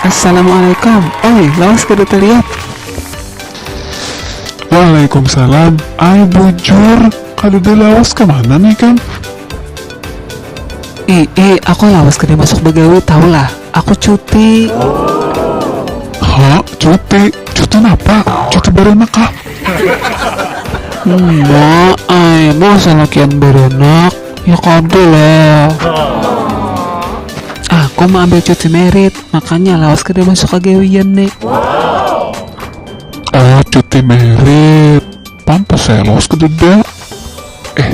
Assalamualaikum Ai, lawas kada talihat Waalaikumsalam Ai bujur, kadada lawas kamanan ikam? Iih, aku lawas kada masuk bagawi tahulah. Aku cuti. Hah? Cuti? Cuti napa? Cuti beranak kah? Nya ai, masa lakian beranak? Ya kada lah. Aku meambil cuti merit, makanya lawas kada masuk ka gawian ni. Oh, cuti merit. Pantas ai lawas kadada. Eh.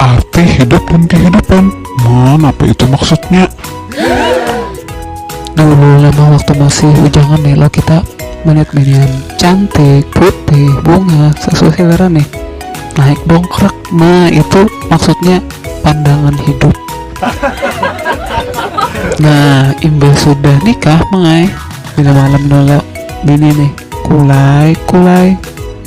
Arti hidup dan kehidupan. Man, apa itu maksudnya? Dulu lama waktu masih ujangan nih lo kita melihat minion cantik, putih, bunga, sesuai selera nih. Naik dongkrak. Nah, itu maksudnya pandangan hidup. Nah, imbah sudah nikah, Mai. Bila malam dulu bini nih. Kulai, kulai.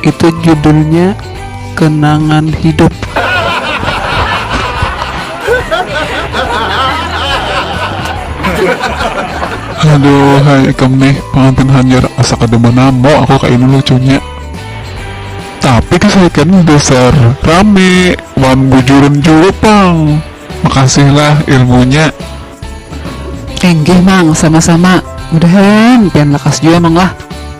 Itu judulnya kenangan hidup. Aduh hai ikam nih pengantin hanyar asa kada manamo aku kaini lucunya tapi kisah ikam nih dasar rame wan bujuran jua pang makasih lah ilmunya. Enggih mang sama sama. Mudahan pian lakas jua mang lah.